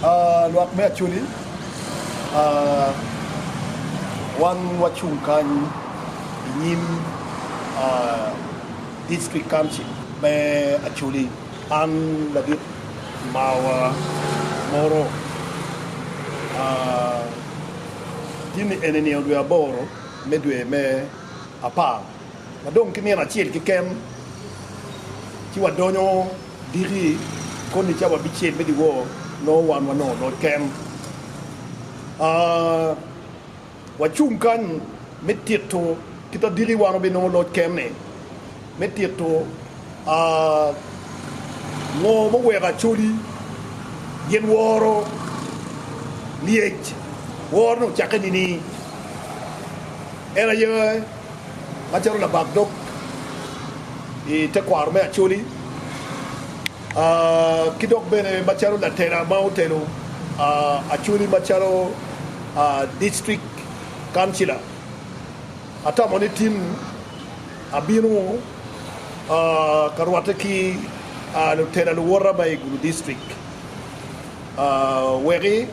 Lwak me Acholi, Wan wacung kany i nyim District Council me Acholi. An ladit mawa moro jami eni ni odwe aboro me dwe me apar Wadong ki nino acel keken ci wadonyo diki koni ca wabicel me dyewor, nongo wan wanongo loc ken. Wacung kany me tito kit ma diki wan wabinongo loc ken-ni, me tito ngo muweko Acholi gin woro lyec. Worone ocakke nining? En aye. Macalo labak dog i tekwaro me Acholi ki dok bene macalo latela ma otelo Acholi macalo District Councillor, atamo ni tin abino ka rwatte ki lutela luwota ma i Gulu District. Wek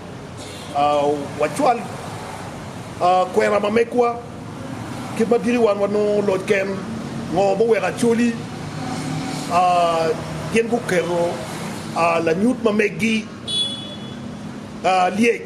wacwal kwena ma megwa kit ma diki wan wanongo loc ken? Ngo muweko Acholi gin guketo lanyut ma megi lyec?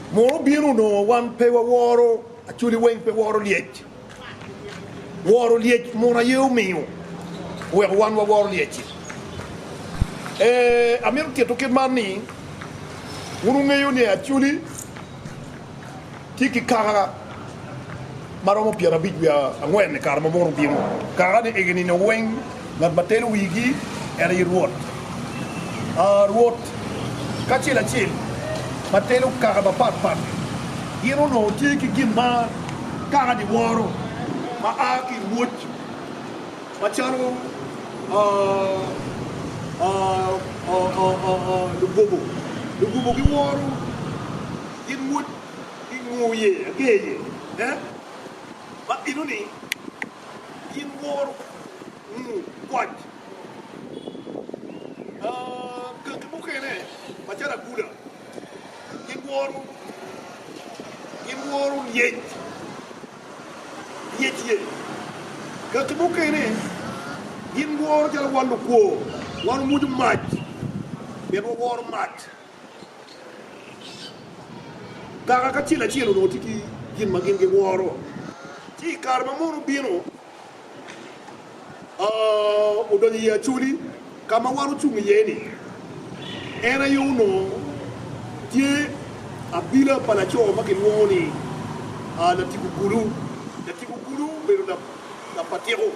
Mur obino onongo wan pe waworo actually weng pe woro lyec. Woro lyec mur aye omiyo oweko wan waworo lyec-ci. Ee, amito tito kit man ni wun wungeyo ni actually tye ki kaka ma romo pyerabic wiye angwen i kare ma Moro obino, kara ni igi nino weng ngat ma telo wigi en aye Rwot. A Rwot kacel acel ma telo kaka mapat pat gi. Gin onongo tye ki gin ma kaka ni woro ma a ki i rwoc ma calo lugobo, lugobo gi woro gin rwoc. I nguu ye ager ye eh ma bino ni gin woro nguu kwac ah gangi mukene macalo aguda gin woro gin woro lyec lyec ye gangi mukene gin woro calo wan lukwor wan wumucu mac pien waworo mac. Kaka kacel acel onongo tye ki gin ma gin giworo, ci i kare ma mon obino odonyo i Acholi ka ma wan ocung iye-ni, en aye onongo tye abila pa laco ma kilwongo ni Latiku Gulu. Latiku Gulu obedo lapatiko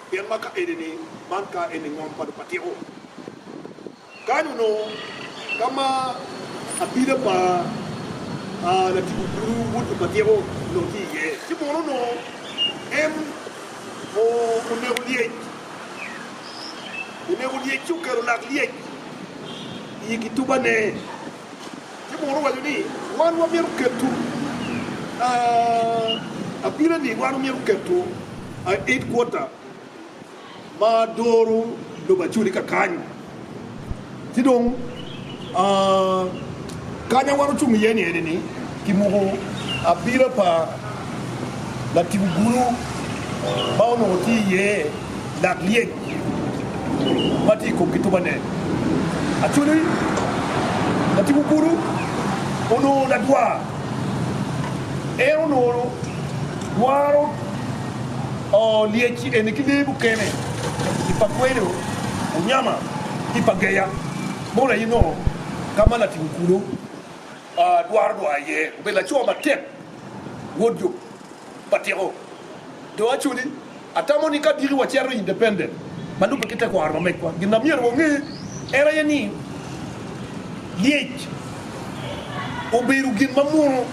pien ma ka eni-ni man ka eni ngom pa lupatiko. Kany onongo ka ma abila pa Latibu Kulu wod Lupatyeko onongo tye iye, ci mono onongo en oneko lyec, oneko lyec ci oketo lak lyec i kitubane, ci mono owaco ni wan wamito keto abila ni wan wamito keto headquarter. ma doro lobo acodi ka kany ci dong kany ma wan ocung iye ni eni ki muku abila pa latib ogulu ma onongo tye iye lak lyec ma tye ikom kitubane actually latib ogulu onongo ladwar en onongo dwaro Oo, lyeci eni ki lee mukene i pa kweyo, anyama ki pa geya, mono aye nongo ka ma latic okulu dwaro dwoyo iye? Obedo laco matek, wod jo pa tyeko. Dong actually, atamo ni ka diki wacito independent ma lubbe ki tekwaro ma megwa, gin ma myero wange en aye ni lyec obedo gin ma muno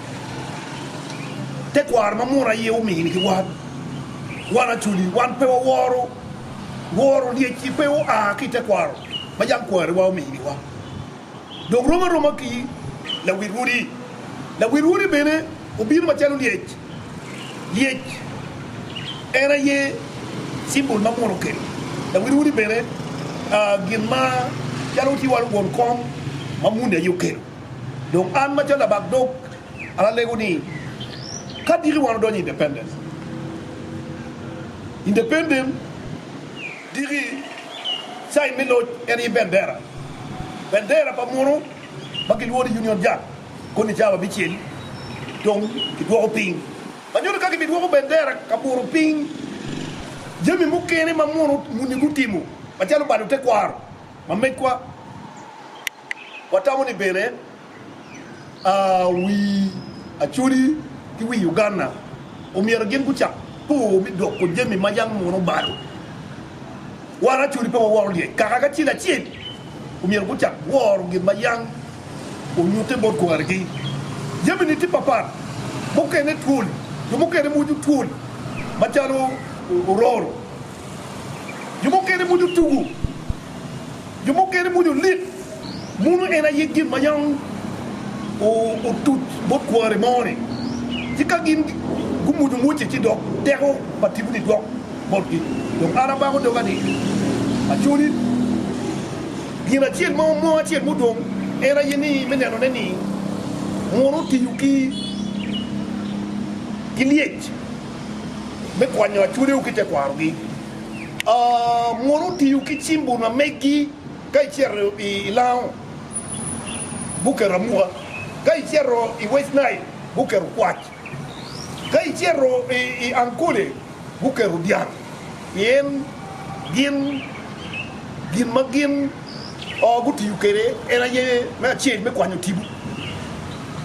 tekwaro ma muno aye omini ki wan. Wan actually wan pe waworo woro lyecci pe oa ki i tekwaro ma jang kwariwa omini wa. Dong rom aroma ki lawil odi, lawil odi bene. Obino macalo lyec, lyec en aye symbol ma mwolo kelo dawiriwiri bene gin ma calo watye walo won kom ma muni aye okelo. Dong an macalo labak dog an alego ni ka diki wan odonyo independent, independent diki sign me loc en aye bendera, bendera pa muno ma kilwongo ni Union Jack. Koni ca wabicel dong ki dwoko piny ma nyuto ka gibidwoko bendera ka buro piny jami mukene ma muno muni gutimo macalo balo tekwaro ma megwa. Watamo ni bene wi Acholi ki wi Uganda omyero gin gucak pur me doko jami ma yam muno balo. Wan Acholi pe waworo lyec kaka kacel acel. omyero gucak woro gin ma yam onyutte bot kwargi. Jamini tye papat, mukene twol, jo mukene mwuco twol macalo ororo, jo mukene mwuco tugu, jo mukene mwuco lik. Muno en aye gin ma yam otuc bot kware mo-ni, ci ka gin gumwuco mwocce ci dok teko pa tipo-ni gwok. botgi. Dong an abako doga ni, Acholi, gin acel ma mo acel mudong en aye ni me nenone ni mon otiyo ki lyec me kwanyo achwodeu ki tekwarogi. Mon otiyo ki cim buna megi ka icito i lango guketo amuka, ka icito i West Nile guketo kwac. Ka icito i Ankole, guketo dyang pien gin gin ma gin gutiyo kwede en aye me acel me kwanyo tipo,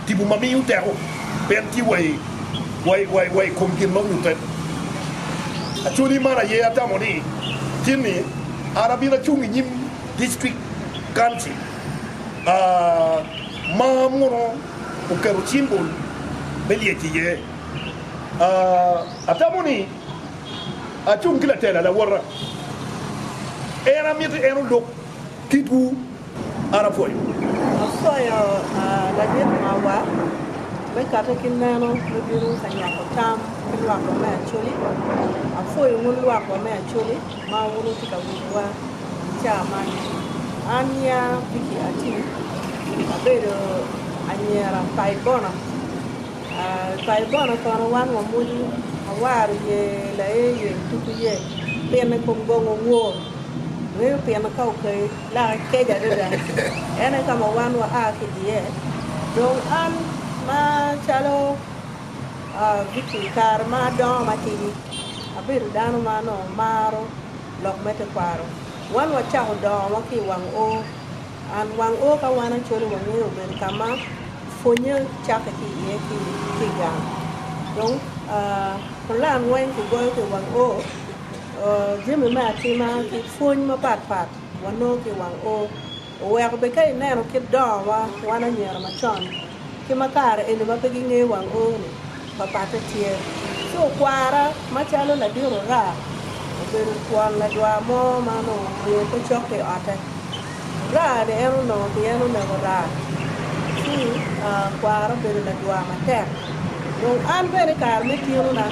tipo ma miyo teko pien tye wa i kom gin ma onyutte. Acholi man aye atamo ni tin ni an abino acung i nyim District Council ma mono. oketo cimbol me lyec iye. Atamo ni acung ki latela, lawota. En amito en olub kitwu. An apwoyo. Akwayo ladit mawa me kate ki meno me bino ka nywako tam ki lwakwa me Acholi. Apwoyo wun lwakwa me Acholi. ma wun wutye ka winyowa i caa man. An nyinga Vicky Atim, abedo anyira pa i Bono. Pa i Bono kono wan wamoco awaro iye, laye iye, tuko iye, pino i kom gongo wor, reyo pino ka okayi, lake kec adada. En aye ka ma wan waa ki iye. Dong an macalo. I kare ma adongo matidi, abedo dano ma onongo maro lok me tekwaro. Wan wacako dongowa ki i wang O. And wang O ka wan acwale wangeyo obedo ka ma pwonnye cakke ki iye ki i gang. Dong pulan weng kigoyo ki i wang O. Jami me atima ki pwony mapatpat wanongo ki i wang O. Oweko bed ka ineno kit dongowa wan anyira macon ki ma kare eni ma pe gingeyo wang O-ni, papatte tye. Ci okwara macalo ladit ora obedo twon ladwa mo ma onongo omiyo pe cokke i ote. Ora-ni en onongo pien onego raa, ci kwara obedo ladwa matek. Dong an bene i kare me tinona,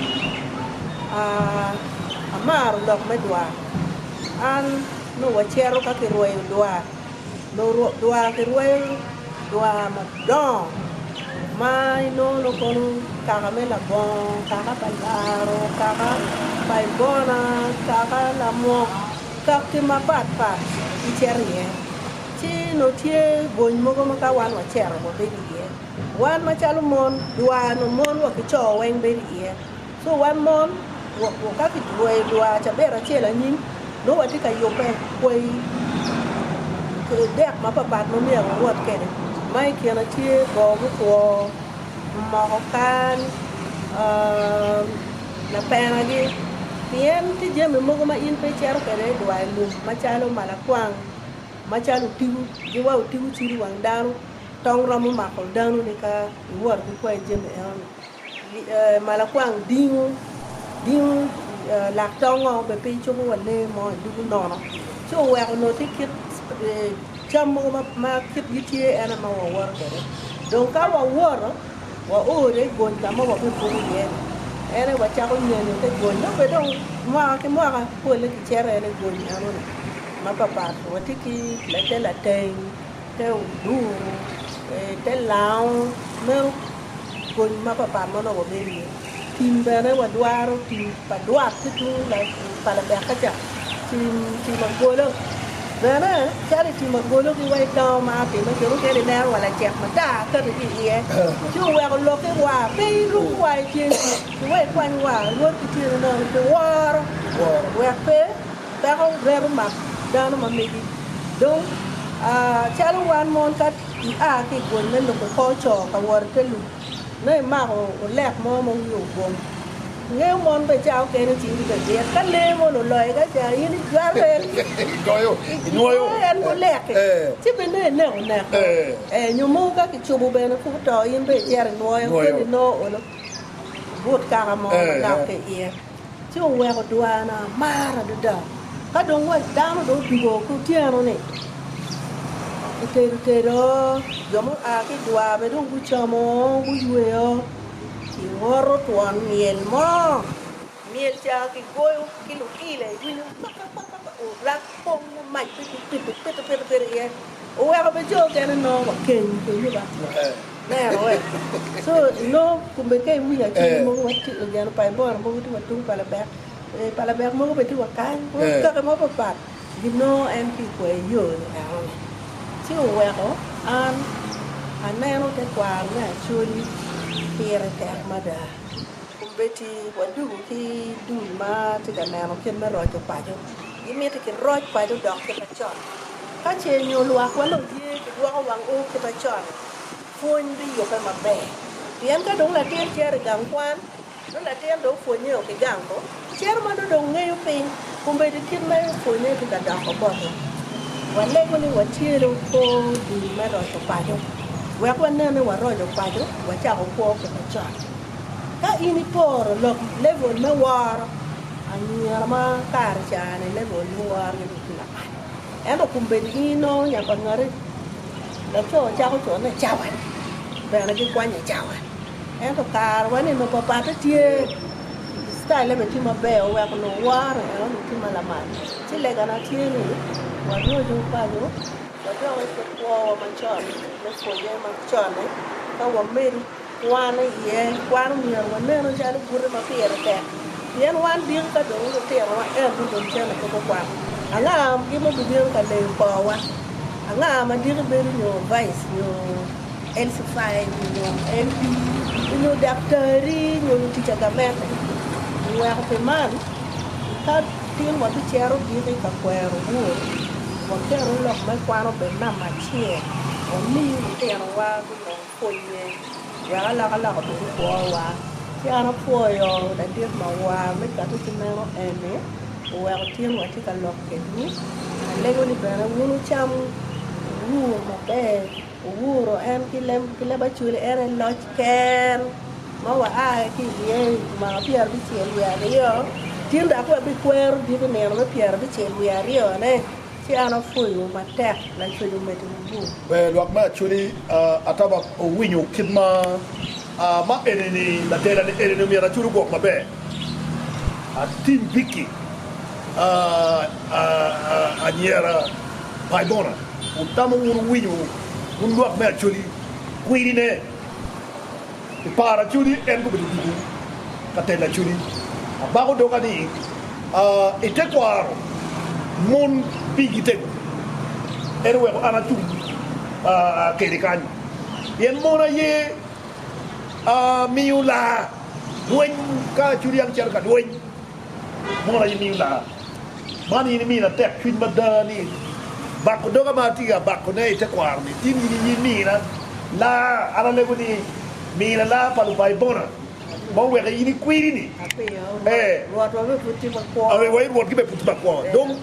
amaro lok me dwa. An. Nongo wacito ka kirweyo dwar, nongo dwar kirweyo dwar madongo ma inongo nongo kono kaka me labongo, kaka pa laro, kaka pa ibona, kaka lamwok, kakki mapat pat kicito iye. Ci nongo tye bwony mogo ma ka wan wacito wabedo iye. Wan macalo mon, dwar nongo mon wa ki co weng bedo iye. So wan mon woko ka kitweyo dwar cabiet acel anyim, nongo watye ka yubbe kwayi dek mapapat ma myero wawot kwede, ma i kine tye bongo mutwo, moko kan, lapenagi, pien tye jami mogo ma in pe icito kwede i dwar i lum macalo malakwang, macalo otigu, giwa otigu cido i wang dano, tong romo mako dano-ni ka iwot ki kwayo jami eno-ni. Malakwang dingo dingo lak tongo bene pe icuko wa lee mo i dugu nono ci oweko onongo tye kit cam mogo ma kitgi tye en aye ma wawoto kwede dong ka wawoto waore i gony ka ma wabibuko iye ni en aye wacako nyenyo te gony dong bene dong mwaka ki mwaka pole kicito en i gony enoni mapapat watye ki te lateng te oduro te lango meno kony mapapat ma nongo wabedo iye tim bene wadwaro tim pa dwak ki tung pa labeka ca tim agolo bene calo itim agolo ki wa idango ma atime jo mukene ineno wa lacek matar kati ki iye ci oweko loki wa pe ilub wa ice ki wa ikwany wa rwod ki tyene nono kiworo wek pe Dako reto mak dano ma megi. Dong, calo wan mon, ka ia ki i pwony me lubo kor co ka wot i te lum, nongo imako olek mo ma wiye ogom, ingeyo mon bene ca okene cinggi bene lit. Ka lee moni oloyi ka ca, in ijwake, igoyo en ki olek-ki, ci bene nongo ineko nek o. Ee, nyo mogo ka kicubo bene pud oto, in bene icito inwoyo, keni nongo oolo but kaka mo manok ki i iye. ci oweko dwana amar adada. Ka dong wat dano dong odugo ki otyeno-ni, otedo tedo, jo mua ki i dwar bene dong gucamo, guyweyo, kingoto twon myel mo, myel ca kigoyo ki luilo iwinyo kakakaka, orak. Kong mumac pe ki pito pito pito pito iye oweko be co okene nongo wa keny pe yubo atika nero we so nongo kome ka iwinyo acel mogo wa tye wa geno pa ibora mogo tye wa tung pa labek pa labek mogo be tye wa kany wa kake mo pa pat gi nongo en ki ikwayo iyo ni eno ni ci oweko an aneno te kwaro me Acholi pire tek mada kome be tye wa dugo ki dul ma tye ka neno kit me roco paco. Gimiti ki roc paco odok kita con. Ka ce nyo lwak wa dong ye ki gwoko wang o kita con, pwony bi yube maber. Pien ka dong latin cero i gang kwan, nongo latin dong pwonye o ki gang ko, cero ma nongo dong ngeyo piny, komedo i kit ma en opwonye ki ka doko bote. Wa lego ni wa cero kor dul me roco paco. Wek wa nene wa roco paco, wa cako kwo kita con. Ka in iporo lok level me woro anyira ma kare cani level me woro gi tye lamal. Ento kombeddi in inongo nya pa ngati laco cako co ne cawani bene gi kwanye cawani. Ento kare wa ni nongo pa patte tye style ne bene tye ma ber oweko nongo woro en onongo tye ma lamal. Ci lega na tye ni wa roco paco wa doki ki kwowa macon me pwonye macon ni ka wa medo. Wan aye wan omyero wanenu calo bute ma pire tek, pien wan diki ka dong lutino wa en ni dong cente pe gukwako. Anga gin ma obibino ka leyo koowa? Anga ma diki bedo nyo vice nyo LC5 nyo LD nyo daktari nyo lutica gamente? Oweko pi man, ka tin wa bicero diki ka kwero Wod, waketo lok me kwano obed namba acel, wami lutino wa gunong. Pwonye, wek alokaloka obed i kwowa. Ci an apwoyo ladit ma war me cotte ki meno eni, oweko tin wa tye ka lok kedwu. Alego ni bene wun wucam, wuwur maber, wuwuro en ki lem ki leb acwele, en aye loc ken ma wa a ki i iye i mwaka pyera bicel wiye aryo, tin dok wa bi kwero dit i nino me pyera bicel wiye aryo ne. Ci an apwoyowu matek, lacwec omedde wubur. Ber lwak me Acudi ataba owinyo kit ma ma eni-ni, ladelane eni-ni omyero Acudi ogwok maber, atim biki anyira Baibona. Wutamo wunu winyo wun lwak me Acudi kwiri-ne? I par acudi en gubedo ducu ka telo acudi. Abako doga ni, Aa i tekwaro mon pigi tego. En oweko an atum kede kany, pien mon aye miyo laa lweny ka acudi an cito ka lweny. Mot aye miyo lar. Man in imina tek cwiny mada ni bako doga ma atye ka bako ne itekwaro ni in in aye imina lar. An alego ni mina lar pa lubai bona ma oweke in ikwiri ni ee Rwot wa bene pud tye makwo. Ee wa i Rwot gi bene pud tye makwo. Dong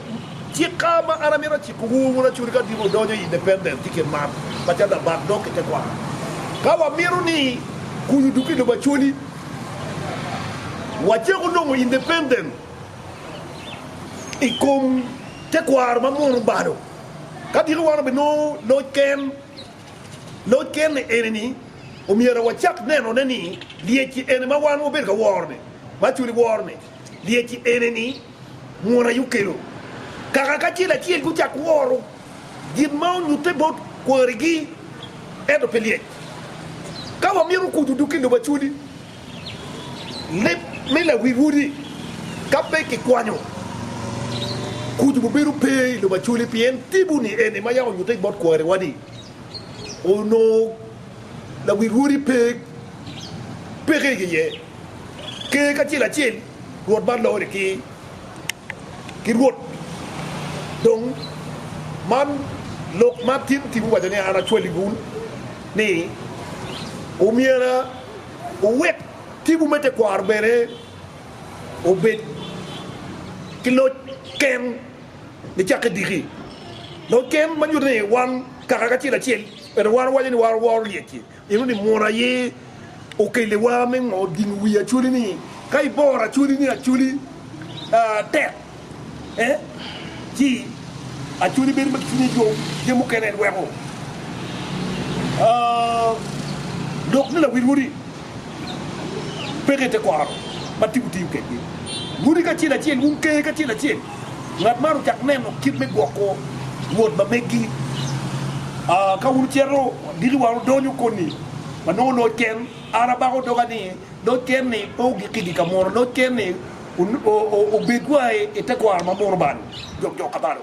cika ma an amito ciko wu wun acuri ka dino wudonyo i independent ki kin mar pa cata bak dok itekwaro ka wa mito ni kuyu duko i lobo acoli. Wacako nongo independent i kom tekwaro ma mono balo. Ka diki wan obinongo loc ken, loc ken eni-ni omyero wacak nenone ni lyeci eni ma wan wabedo ka woro-ni, ma actually woro-ni, Lyeci ene ni, Mwol aye okelo kaka kacel acel gucako woro gin ma onyutte bot kwarigi, ento pe lyec. Ka wamito okuc odug ki lobo Acholi, leb me lawi-wodi ka pe kikwanyo, kuc obibedo pe i lobo Acholi pien tipo-ni ene ma yam onyutte bot kwariwa-ni onongo lawi-wodi pe peke iye. Ker kacel acel rwot man loro ni ker ki rwot dong man lok ma tim tim owaco ni an acwali wun ni omyera wuwek timwu me tekwaro bene obed ki loc ken nicakke diki loc ken ma nyuto ni wan kaka kacel acel ento wan wawaco ni waworo lyecci Ineno ni mot aye okeliwa me ngo dingo wi Acholi ni ka iboro Acholi ni Acholi tek eh ci Acholi bedo ma cwinye yom je mukene lweko lok ni lawil wodi peke ite koro ma timo tim kedgi wodi kacel acel wun ker kacel acel. Ngat man ocako neno kit me gwoko wod ma meggi. Ka wun wucito, agikki wa wudonyo koni ma nongo loc ken. An abako doga ni, Loc ken-ni pe ogikki gi ka munu. Loc ken-ni obed wa i tekwaro ma munu bal jok jo kabalo.